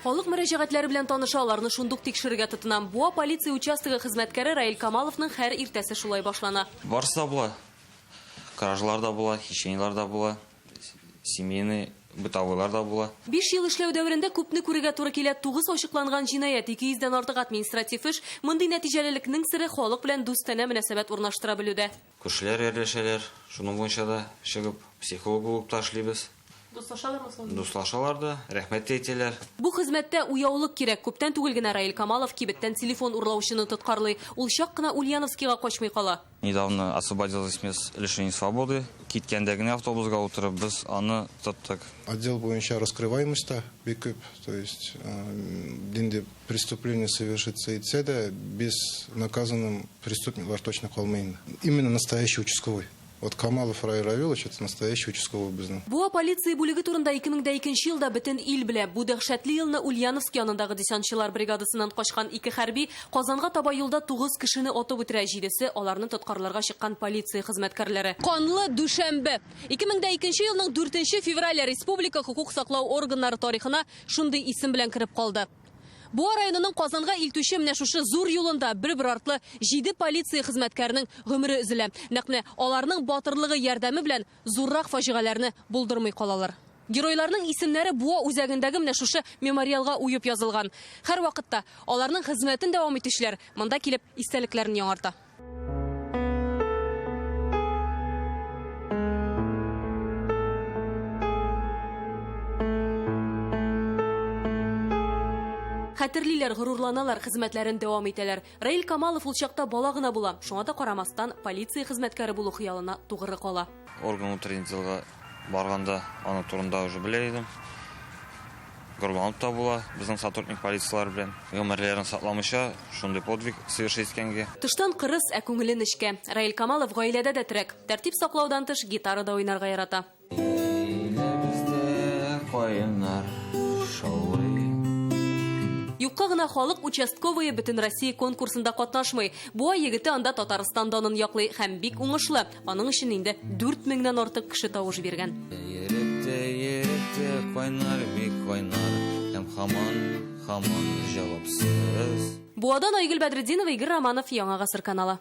Халык мөрәҗәгатьләре белән таныша, аларны шундук тикшерергә тотынам. Буа полиция участогы хезмәткәре Раил Камаловның хәр иртәсе шулай башлана. Барысы да була. Кражалар да була, хищениелар да була. Семейный, бытовойлар да була. Биш ел эшләү дәверендә күпне күрергә туры килә, тугыз ачыкланган җинаять, 200 дән артык административ эш. Мондый нәтиҗәлелекнең сере, халык белән дустанә мөнәсәбәт урнаштыра белүдә. Күршеләр ярдәшәләр, шуның буенча да чыгып, психолог булып та эшлибез. Дуслашалармы соң? Дуслашалар да, рәхмәт тә әйтәләр. Бу хезмәттә уяулык кирәк. Күптән түгел генә Раил Камалов кибеттән телефон урлаучыны тоткарлый. Ул чак кына Ульяновскига качмый кала. Недавно освободилась мес лишения свободы. Киткәндә генә автобусга утырып без аны тоттык. Отдел буенча раскрываемость та бик күп, то есть нинди преступление совершиться итсә дә, без наказанным преступниклар точно калмый инде. Именно настоящий участковый. Вот Камалов Раил Равилович, это настоящий участковый безнең. Буа полиция бүлеге турында 2002 елда бөтен ил белә. Бу дәһшәтле елны Ульяновск янындагы десантчылар бригадасыннан качкан ике хәрби Казанга таба юлда тугыз кешене атып үтерә, җидесе, аларны тоткарларга чыккан полиция хезмәткәрләре. Канлы дүшәмбе! 2002 елның 4 феврале республика хокук саклау органнары тарихына шундый исем белән кереп калды. Буа районының Казанга илтүче менә шушы зур юлында бер-бер артлы җиде полиция хезмәткәренең гомере өзелә. Нәкъ менә аларның батырлыгы ярдәме белән зуррак фаҗигаләрне булдырмый калалар. Геройларның исемнәре Буа үзәгендәге менә шушы мемориалга уеп язылган. Һәрвакытта аларның хезмәтен дәвам итүчеләр монда килеп истәлекләрен яңарта. Хәтерлиләр, горурланалар, хезмәтләрен дәвам итәләр. Раил Камалов ул чакта бала гына була, шуңа да карамастан, полиция хезмәткәре булу хыялына тугры кала. Орган утренний делга барганда аның турында уже белә идем. Гөрланып та була безнең сотрудник полицияләр белән. Гомерләрен сакламыйча шундый подвиг совершить иткәнгә. Тыштан кырыс, ә күңеле нечкә. Раил Камалов гаиләдә дә терәк. Тәртип саклаудан тыш, гитара да уйнарга ярата. Юкка гына халык участковые бөтенроссия конкурсында катнашмый. Буа егете анда Татарстан данын яклый һәм бик уңышлы. Аның өчен инде 4000 нан артык кеше тавыш биргән. Еректе, еректе, кайнар бик кайнар, һәм хаман, хаман җавапсыз. Буадан Айгөл Бәдретдинова, Игорь Романов, Яңа гасыр каналы.